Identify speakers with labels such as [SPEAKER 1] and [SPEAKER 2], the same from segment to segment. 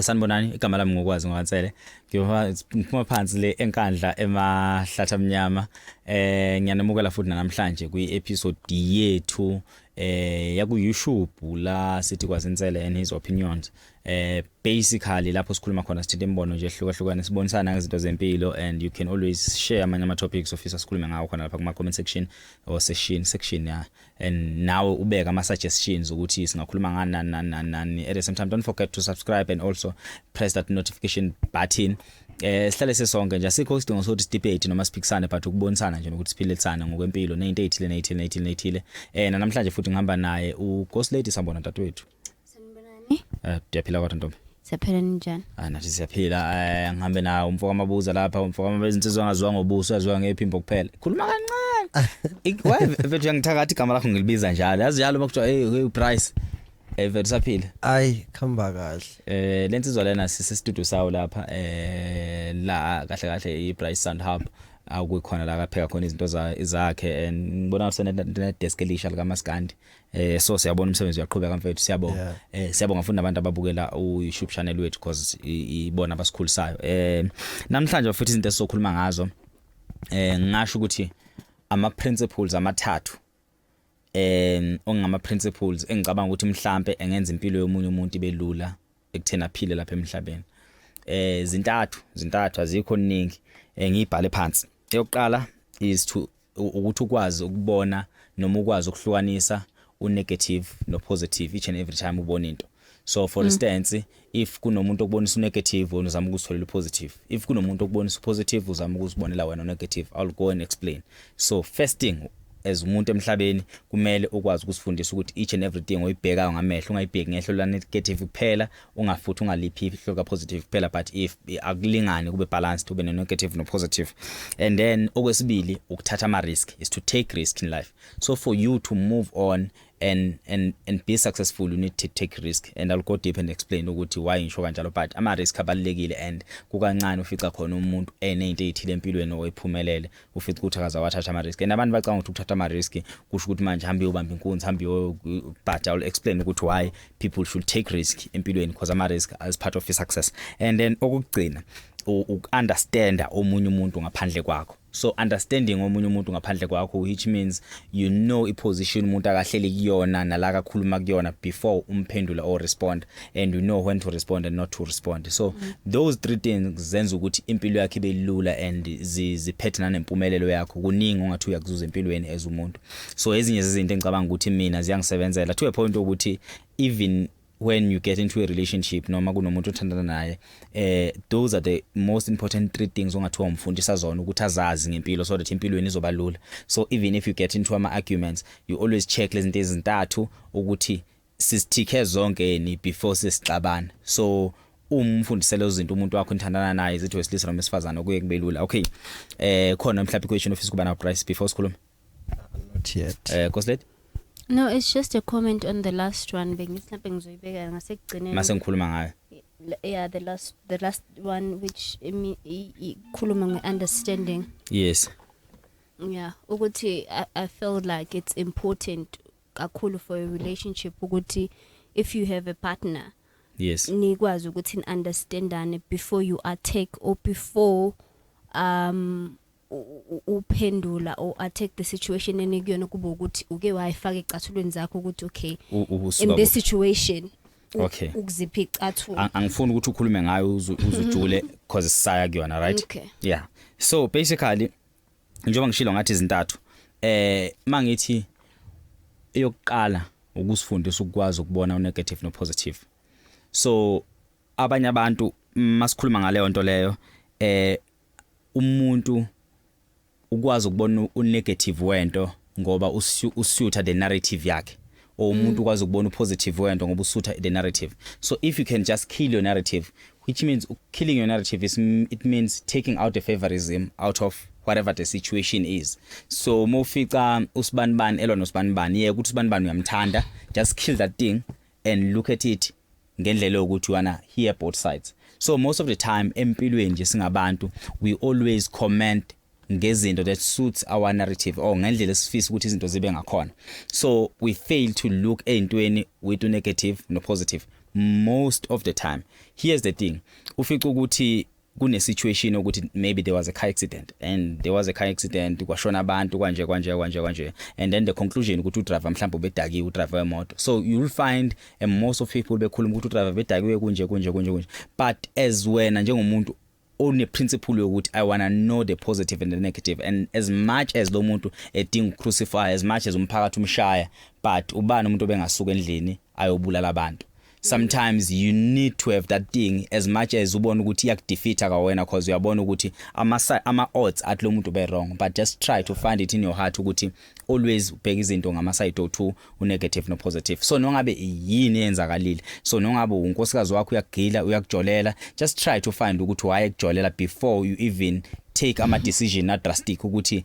[SPEAKER 1] Sanibonani igama lami ngokwazi ngwansele ngiphuma phansi le enkandla emahlatha mnyama eh ngiyanamukela futhi namhlanje kwi episode yethu eh yaku YouTube la sithi kwazinsele and his opinions eh basically lapho sikhuluma khona sithinta imibono nje ehlukahlukene sibonisana ngezinto zempilo and you can always share amanye ama topics ofisa sikhulume ngawo khona lapha kuma comment section or session section ya and nawe ubeke ama suggestions ukuthi singakhuluma ngani nani nani nani nani at the same time don't forget to subscribe and also press that notification button eh sihlale sesonke nje asikho isidingo sokuthi debate noma siphikisane but ukubonisana nje nokuthi siphilisane ngokwempilo nezinto ezithile nezithile nezithile nezithile eh namhlanje futhi ngihamba naye u Ghost Lady sambona dadwethu sanibonani
[SPEAKER 2] Eh ndiyaphila kodwa
[SPEAKER 1] ntombi. siyaphela ninjani
[SPEAKER 2] Ah nathi siyaphila
[SPEAKER 1] eh ngihambe nawo umfo kamabuza lapha umfo kamabuza insizwa angaziwa ngobuso yaziwa ngephimbo kuphela. Khuluma kancane. Ik- Why mfethu yangithakathi igama lakho ngilibiza njalo. Yazi njalo makuthiwa hey hey price. Eh mfethu saphila. ayi khamba
[SPEAKER 3] kahle Eh lensizwa lena sise
[SPEAKER 1] studio sawo lapha eh la kahle kahle i Price Sound Hub akukhona la kapheka khona izinto za- zakhe and ngibona senedeskelisha lika Maskandi eh so siyabona umsebenzi uyaqhubeka mfethu siyabonga yeah. eh siyabonga futhi nabantu ababukela uYouTube channel wethu because ibona abasikhulisayo eh namhlanje futhi izinto esizokhuluma ngazo eh ngasho ukuthi ama principles amathathu eh ongama principles engicabanga ukuthi mhlambe engenza impilo yomunye umuntu ibelula ekuthena phile lapha emhlabeni eh zintathu zintathu azikho ningi eh, ngiyibhale phansi eyokuqala is to ukuthi ukwazi ukubona noma ukwazi ukuhlukanisa unegative nopositive each and every time ubona into so for mm. instance if kunomuntu okubonisa unegative wena uzama ukuzitholela upositive if kunomuntu okubonisa upositive uzama ukuzibonela wena unegative i'll go and explain so first thing as umuntu emhlabeni kumele ukwazi ukusifundisa ukuthi each and everything oyibhekayo ngamehlo ungayibheki ngehlo la negative kuphela ungafuthi ungaliphi ihlo ka positive kuphela but if akulingani kube balanced ube ne negative no positive and then okwesibili ukuthatha ama risk is to take risk in life so for you to move on and and and be successful you need to take risk and I'll go deep and explain ukuthi why ngisho kanjalo but ama risk abalekile and kukancane ufica khona umuntu enezinto ezithile empilweni oyiphumelele ufica ukuthi akaze wathatha ama-risk and abantu bacanga ukuthi ukuthatha ama-risk kusho ukuthi manje hambe uyobamba inkunzi hambe but iwill explain ukuthi why people should take risk empilweni because ama-risk as part of i-success and then okokugcina uku-understanda omunye umuntu ngaphandle kwakho so understanding omunye umuntu ngaphandle kwakho which means you know iposition umuntu akahleli kuyona nala kakhuluma kuyona before umphendula or respond and you know when to respond and not to respond so mm -hmm. those three things zenza ukuthi impilo yakhe ibe lula and ziphethe nanempumelelo yakho kuningi ongathi uyakuzuza empilweni as umuntu so ezinye zezinto engicabanga ukuthi mina ziyangisebenzela to a point ukuthi even when you get into a relationship noma kunomuntu othandana naye eh those are the most important three things ongathiwa umfundisa zona ukuthi azazi ngempilo so that impilweni izoba lula so even if you get into ama arguments you always check lezinto ezintathu ukuthi sisithikhe zonke ni before sesixabana so uma umfundisela izinto umuntu wakho nithandana naye zithi wesilisa noma esifazana kuye kube lula okay eh khona mhlawumbe question ofisa kuba na price before sikhuluma not
[SPEAKER 3] yet eh kosleti
[SPEAKER 1] No, it's just
[SPEAKER 2] a comment on the last one bengithi mhlawumbe ngizoyibeka ngasekugcineni. Mase ngikhuluma ngayo.
[SPEAKER 1] Yeah, the
[SPEAKER 2] last the last one which ikhuluma nge understanding. Yes.
[SPEAKER 1] Yeah,
[SPEAKER 2] ukuthi I, I feel like it's important kakhulu for a relationship ukuthi if you have a partner yes
[SPEAKER 1] nikwazi ukuthi
[SPEAKER 2] understandane before you attack or before um uphendula or attack the situation enikuyona kuba ukuthi uke wayifaka ecathulweni zakho ukuthi okay in this situation okay
[SPEAKER 1] ukuzipha icathulo
[SPEAKER 2] angifuni ukuthi ukhulume
[SPEAKER 1] ngayo uzujule because sisaya kuyona right okay. yeah
[SPEAKER 2] so
[SPEAKER 1] basically njengoba ngishilo ngathi izintathu eh mangithi eyokuqala ukusifundisa ukwazi ukubona unegative nopositive so abanye abantu masikhuluma ngaleyo nto leyo eh umuntu ukwazi ukubona unegative wento ngoba usutha the narrative yakhe or umuntu ukwazi ukubona upositive wento ngoba usutha the narrative so if you can just kill your narrative which means killing your narrative is it means taking out the favorism out of whatever the situation is so uma ufica usibanibani elwa nosibanibani yeke ukuthi usibanibani uyamthanda just kill that thing and look at it ngendlela yokuthi wana hear both sides so most of the time empilweni nje singabantu we always comment ngezinto that suits our narrative or ngendlela esifisa ukuthi izinto zibe ngakhona so we fail to look ezintweni with negative no positive most of the time here's the thing ufica ukuthi kune situation ukuthi maybe there was a car accident and there was a car accident kwashona abantu kwanje kwanje kwanje kwanje and then the conclusion ukuthi udriver mhlawumbe ubedakiwe udriver wemoto so you will find and most of people bekhuluma ukuthi udriver bedakiwe kunje kunje kunje kunje but as wena njengomuntu one principle yokuthi i wanna know the positive and the negative and as much as lo muntu edinga ucrucify as much as umphakathi umshaya but ubani umuntu obengasuka endlini ayobulala abantu sometimes you need to have that thing as much as ubona ukuthi iyakudefeater ka wena because uyabona ukuthi ama ama odds athi lo muntu be wrong but just try to find it in your heart ukuthi always ubheka izinto ngama side o2 u negative no positive so nongabe yini eyenzakalile so nongabe unkosikazi wakho uyagila uyakujolela just try to find ukuthi why ekujolela before you even take ama decision na drastic ukuthi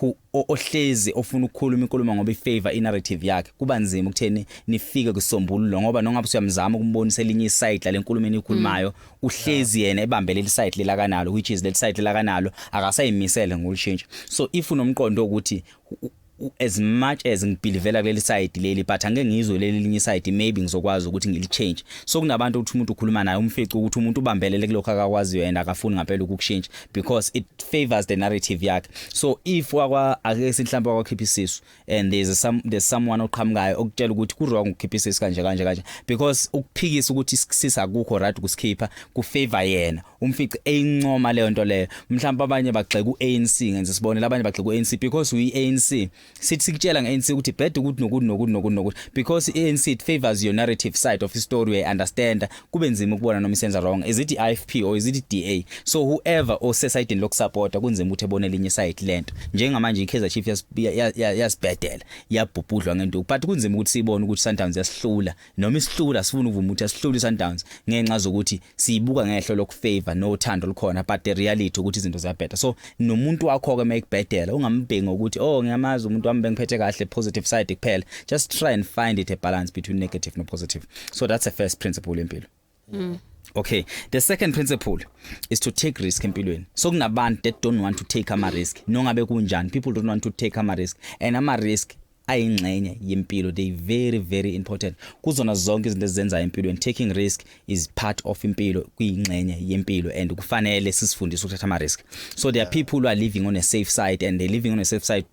[SPEAKER 1] who ohlezi ofuna ukukhuluma inkulumo ngoba ifavor inarrative yakhe kuba nzima ukutheni nifike kusombululo ngoba nongabe usuyamzama ukumbonisa elinye iside lale nkulumo enikhulumayo mm. uhlezi yena ebambele iside lelakanalo which is leli side lelakanalo akasayimisele ngokushintsha so if unomqondo ukuthi as much as ngibhilivela kuleli side leli but angeke ngizwe leli linye side maybe ngizokwazi ukuthi ngili change so kunabantu ukuthi umuntu ukhuluma naye umfice ukuthi umuntu ubambelele kulokho akakwaziyo and akafuni ngempela ukukushintsha because it favors the narrative yakhe so if wakwa ake sinhlambe wakwakhipha isisu and there's some there's someone oqhamukayo okutshela ukuthi ku wrong ukukhipha isisu kanje kanje kanje because ukuphikisa ukuthi sisa akukho right ukusikhipha ku favor yena umfice eyincoma leyo nto leyo mhlawumbe abanye bagxeka uANC ngenze sibone labanye bagxeka uANC because uANC sithi sikutshela ngeANC ukuthi bed ukuthi nokuthi nokuthi nokuthi nokuthi because iANC it favors your narrative side of story we understand kube nzima ukubona noma isenza wrong is it IFP or is it DA so whoever osesidini lokusupporta kunzima ukuthi ebone linye side lento njengamanje iKaizer Chiefs yasibhedela yabhubhudlwa ngento but kunzima ukuthi sibone ukuthi Sundowns yasihlula noma isihlula sifuna ukuvuma ukuthi asihlula iSundowns ngenxa zokuthi siyibuka ngehlo lokufavor nothando olukhona but the reality ukuthi izinto ziyabheda so nomuntu wakho ke mayikubhedela ungambheki ngokuthi oh ngiyamazi umuntu wami bengiphethe kahle positive side kuphela just try and find it a balance between negative no positive so that's a first principle empilo mm. okay the second principle is to take risk empilweni so kunabantu that don't want to take ama risk nongabe kunjani people don't want to take ama risk and ama risk ayingxenye yempilo they very very important kuzona zonke izinto ezenza empilweni taking risk is part of impilo kuyingxenye yempilo and kufanele sisifundise ukuthatha ama risk so there are people who are living on a safe side and they living on a safe side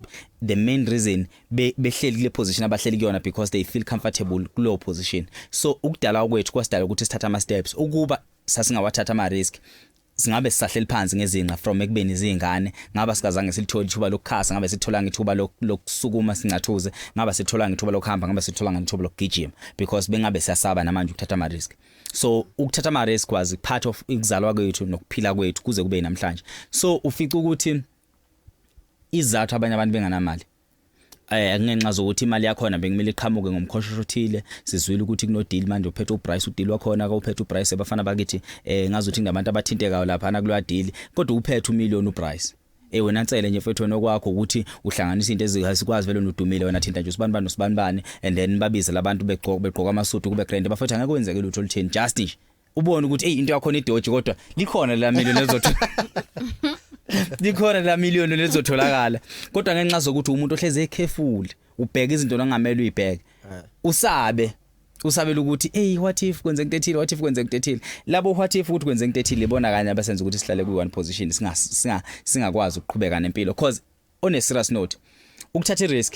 [SPEAKER 1] the main reason be behleli kule position abahleli kuyona because they feel comfortable kulo position so ukudala kwethu kwasidala ukuthi sithatha ama steps ukuba sasingawathatha ama risk singabe sisahleli phansi ngezinqa from ekubeni izingane ngaba sikazange silithole ithuba lokukhasa ngabe sitholanga ithuba lokusukuma sincathuze ngaba sitholanga ithuba lokuhamba ngaba sitholanga ithuba lokugijima because bengabe siyasaba namanje ukuthatha ama risk so ukuthatha ama risk was part of ikuzalwa kwethu nokuphila kwethu kuze kube namhlanje so ufica ukuthi izathu abanye abantu benganamali eh akungenxa zokuthi imali yakho na bekumele iqhamuke ngomkhoshosho othile sizwile ukuthi kuno deal manje uphethe uprice udeal wakhona ka uphethe uprice abafana bakithi eh ngazothi ngabantu abathintekayo lapha na kulwa deal kodwa uphethe umillion uprice eh wena nsele nje mfethu wena okwakho ukuthi uhlanganisa into ezikwazi vele nodumile wena thinta nje usibani bani usibani bani and then babize labantu begqoka begqoka amasudu kube grand bafethu angeke kwenzeke lutho olutheni just nje ubone ukuthi hey into yakho nedoji kodwa likhona la million lezothi likhona la million lezotholakala kodwa ngenxa zokuthi umuntu ohleze ekhefuli ubheka izinto ongamele uyibheke eh. usabe usabela ukuthi hey what if kwenze into ethile what if kwenze into ethile labo what if ukuthi kwenze into ethile ibona kanye abasenza ukuthi sihlale kwi one position singa singa singakwazi ukuqhubeka nempilo because on a serious note ukuthatha i risk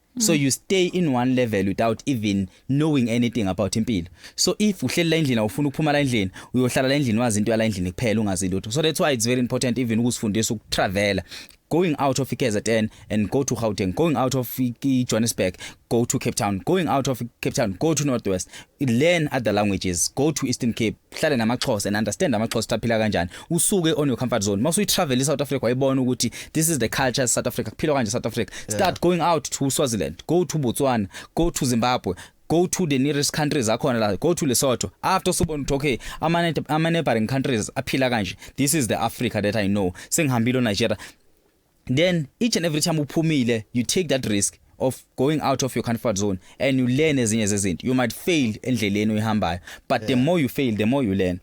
[SPEAKER 1] so you stay in one level without even knowing anything about impilo so if uhleli la endlini awufuna ukuphuma la endlini uyohlala la endlini wazi into yala endlini kuphela ungazi lutho so that's why it's very important even ukusifundisa ukutravela going out of KZN and go to Gauteng going out of Johannesburg go to Cape Town going out of Cape Town go to Northwest learn other languages go to Eastern Cape hlale namaxhosa and understand amaxhosa taphila kanjani usuke on your comfort zone mase uyitravel eSouth Africa wayibona ukuthi this is the culture of South Africa kuphilwa kanje South Africa start yeah. going out to Swaziland go to Botswana go to Zimbabwe go to the nearest countries akhona la go to Lesotho after usubona ukuthi okay ama ama neighboring countries aphila kanje this is the Africa that i know sengihambile Nigeria then each and every time uphumile you take that risk of going out of your comfort zone and you learn ezinye zezinto you might fail endleleni uyihambayo but yeah. the more you fail the more you learn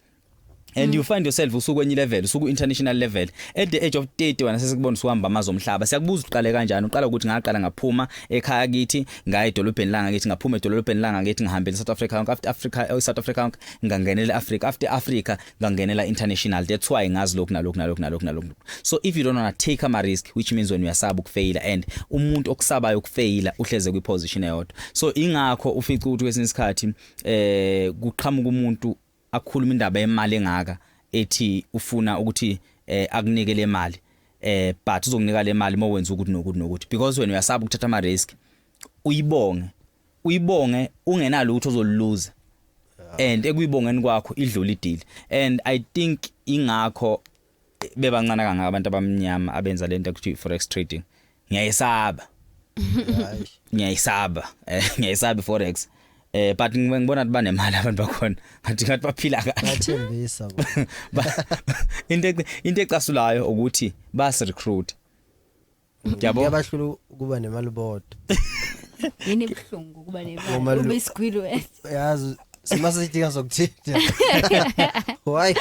[SPEAKER 1] and mm. you find yourself usukwenye level usuku international level at the age of 30 wena sesikubona usuhamba amazi omhlaba siyakubuza uqale kanjani uqala ukuthi ngaqala ngaphuma ekhaya kithi ngaye edolobheni langa kithi ngaphuma edolobheni langa kithi ngihambele South Africa after Africa eh, South Africa ngangenele Africa after Africa ngangenela international that's why ngazi lokhu nalokhu nalokhu nalokhu nalokhu so if you don't want to take ama risk which means when uyasaba ukufaila and umuntu okusabayo ukufaila uhleze kwi position eyodwa so ingakho ufica ukuthi kwesinye isikhathi eh kuqhamuka umuntu akhuluma indaba yemali engaka ethi ufuna ukuthi eh akunike le mali eh but uzokunika le mali mowenza ukuthi nokuthi nokuthi because wena uyasaba ukuthatha ama risk uyibonge uyibonge ungenalutho ozoluluza and ekuyibongeni kwakho idlula idili and i think ingakho bebancane kangaka abantu abamnyama abenza lento ekuthiwa forex trading ngiyayisaba ngiyayisaba eh, ngiyayisaba forex eh but ngibona ukuthi banemali abantu bakhona ngathi ngathi baphila kahle bathembisa
[SPEAKER 3] into
[SPEAKER 1] into ecasulayo ukuthi bas recruit Yabo. Kuyabahlula
[SPEAKER 3] ukuba nemali bodwa.
[SPEAKER 2] Yini ibuhlungu ukuba nemali. Ngoba lo- Ube isigwili wedwa. Yazi
[SPEAKER 3] simase sidinga sokuthinta. Why?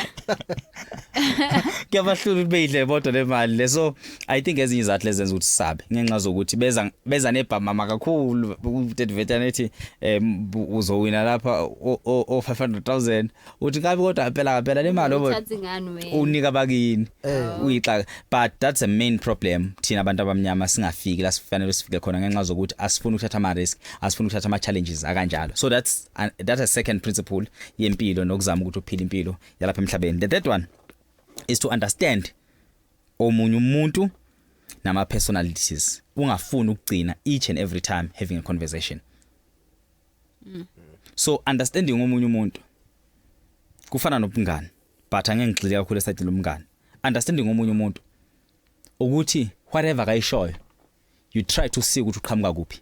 [SPEAKER 1] kuyabahlula ukuthi beyidle bodwa le mali le so i think ezinye izathu lezenza ukuthi sabe ngenxa zokuthi beza beza nebhamama kakhulu udevetana ethi um uzowina lapha o- o o 500000 uthi kabi kodwa ngempela ngempela le mali obo Uthatha ingane wena. unika bakini uyixaka but that's a main problem thina abantu abamnyama singafiki la sifanele sifike khona ngenxa zokuthi asifuni ukuthatha ama risk asifuni ukuthatha ama challenges akanjalo so that's an, that's a second principle yempilo nokuzama ukuthi uphile impilo yalapha emhlabeni the third one is to understand omunye umuntu nama personalities ungafuni ukugcina each and every time having a conversation mm. so understanding omunye umuntu kufana nobungani but angeke ngigxile kakhulu esayidini lomngani understanding omunye umuntu ukuthi whatever kayishoyo you try to see ukuthi uqhamuka kuphi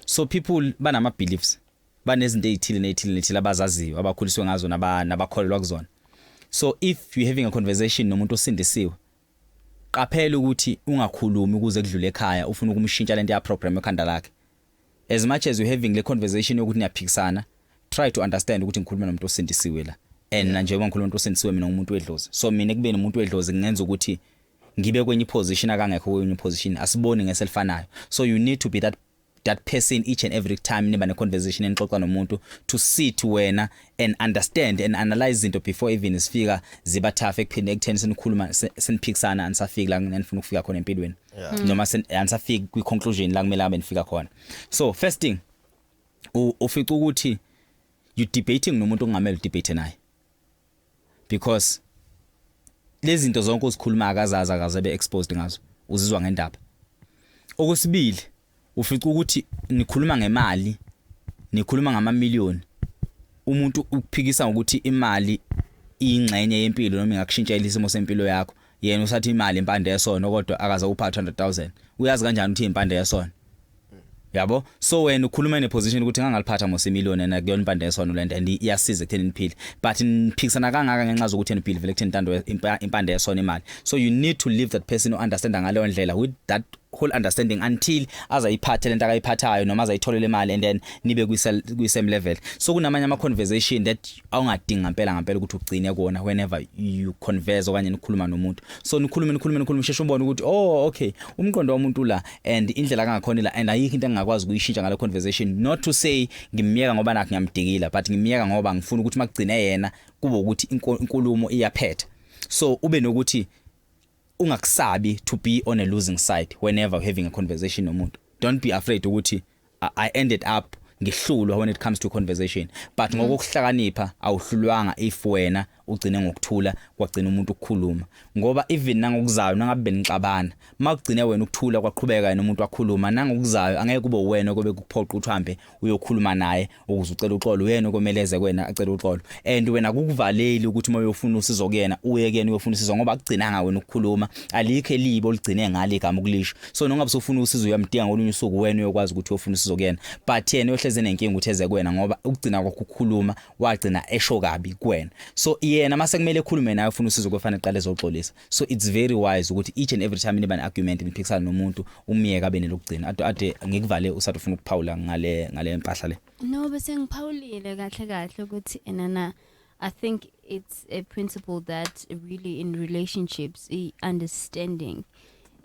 [SPEAKER 1] so people banama beliefs banezinto ezithile nezithile nezithile abazaziyo abakhuliswe ngazo nabakholelwa kuzona so if you having a conversation nomuntu osindisiwe qaphela ukuthi ungakhulumi ukuze kudlule ekhaya ufuna ukumshintsha lento ya program ekhanda lakhe As much as you having le conversation yokuthi niyaphikisana, try to understand ukuthi ngikhuluma nomuntu osindisiwe la. And yeah. njengoba ngikhuluma nomuntu osindisiwe mina ngumuntu wedlozi. So mina kubeni umuntu wedlozi kungenza ukuthi ngibe kwenye position akangekho kwenye position asiboni ngeselifanayo. So you need to be that that person each and every time niba ne conversation enixoxa nomuntu to sit wena and understand and analyze izinto before even isifika ziba tough ekuphinde ekutheni senikhuluma seniphikisana anisafiki la nginifuna ukufika khona empilweni yeah. Mm. noma anisafiki kwi conclusion la kumele abe nifika khona so first thing ufica ukuthi you debating nomuntu ongamele debate naye because lezi zinto zonke uzikhuluma akazazi akaze be exposed ngazo uzizwa ngendaba okwesibili ufica ukuthi nikhuluma ngemali nikhuluma ngamamiliyoni umuntu ukuphikisa ngokuthi imali ingxenye yempilo noma ingakushintshela isimo sempilo yakho yena usathi imali impande yesona kodwa akaze upha 200000 uyazi kanjani ukuthi impande yesona yabo so wena ukhuluma ne position ukuthi ngangaliphatha mose million and akuyona impande yesona lento and iyasiza ekutheni niphile but niphikisana kangaka ngenxa zokuthi niphile vele ekutheni intando impande yesona imali so you need to leave that person who understand ngaleyo ndlela with that whole understanding until azayiphathe lento akayiphathayo noma azayitholela imali and then nibe kwi same level so kunamanye ama conversation that awungadinga impela ngempela ukuthi ugcine kuona whenever you converse okanye nikhuluma nomuntu so nikhulume nikhulume nikhulume sheshe ubone ukuthi oh okay umqondo womuntu la and indlela kangakhona la and ayikho into engingakwazi ukuyishintsha ngale conversation not to say ngimyeka ngoba nakho ngiyamdikila but ngimyeka ngoba ngifuna ukuthi makugcine yena kube ukuthi inkulumo iyaphetha so ube nokuthi ungakusabi to be on a losing side whenever having a conversation nomuntu don't be afraid ukuthi i ended up ngihlulwa when it comes to conversation but mm. ngokuhlakanipha awuhlulwanga if wena ugcine ngokuthula kwagcina umuntu ukukhuluma ngoba even nangokuzayo nangabe benixabana makugcine wena ukuthula kwaqhubeka yena umuntu wakhuluma nangokuzayo angeke kube wena kobe kuphoqa ukuthi uhambe uyokhuluma naye ukuze ucela uxolo uyena okomeleze kwena acela uxolo and wena kukuvaleli ukuthi uma uyofuna usizo kuyena uye kuyena uyofuna usizo ngoba akugcinanga wena ukukhuluma alikho elibi oligcine ngale igama ukulisho so nongabe usufuna usizo uyamdinga ngolunye usuku wena uyokwazi ukuthi uyofuna usizo kuyena but yena uyohleze nenkinga ukuthi eze kwena ngoba ukugcina kwakho ukukhuluma wagcina esho kabi kuwena so yena mase kumele ekhulume naye ufuna usizo kufanele qale ezoxolisa so it's very wise ukuthi each and every time niba ne argument niphikisana nomuntu umyeka abe nelokugcina ade ade ngikuvale usathi ufuna ukuphawula ngale ngale mpahla le no bese ngiphawulile
[SPEAKER 2] kahle kahle ukuthi enana i think it's a principle that really in relationships i understanding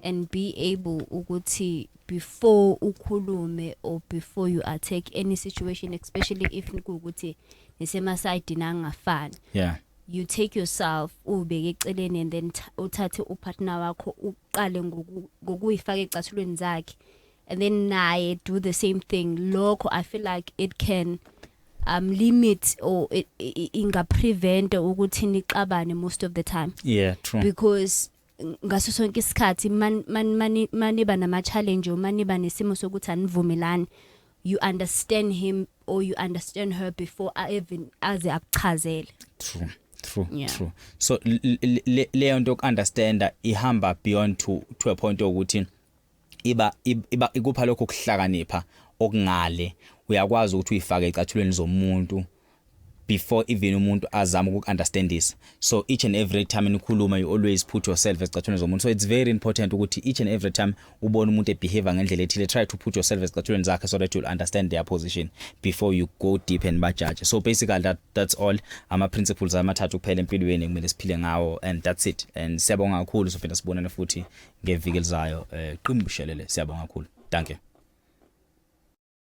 [SPEAKER 2] and be able ukuthi before ukhulume or before you attack any situation especially if ukuthi nisemasayidini angafani yeah you
[SPEAKER 1] take yourself
[SPEAKER 2] ubeke eceleni and then uthathe upartner wakho uqale ngokuyifaka ecathulweni zakhe and then naye do the same thing lokho i feel like it can um limit or inga prevent ukuthi nixabane most of the time yeah true because ngaso sonke isikhathi maniba nama-challenge or maniba nesimo sokuthi anivumelani you understand him or you understand her before even aze akuchazele true true
[SPEAKER 1] yeah. true
[SPEAKER 2] so
[SPEAKER 1] leyo nto yoku-understanda ihamba beyond to, to a point okuthi iba iba ikupha lokho kuhlakanipha okungale uyakwazi ukuthi uyifake ecathulweni zomuntu before even umuntu azama ukukunderstandisa so each and every time nikhuluma you always put yourself esicathulweni zomuntu so it's very important ukuthi each and every time ubone umuntu ebehave ngendlela ethile try to put yourself esicathulweni zakhe so that you'll understand their position before you go deep and bajudge so basically that that's all ama principles amathathu kuphela empilweni kumele siphile ngawo and that's it and siyabonga kakhulu sofina sibonane futhi ngeviki elizayo eh qimbu shelele siyabonga kakhulu danke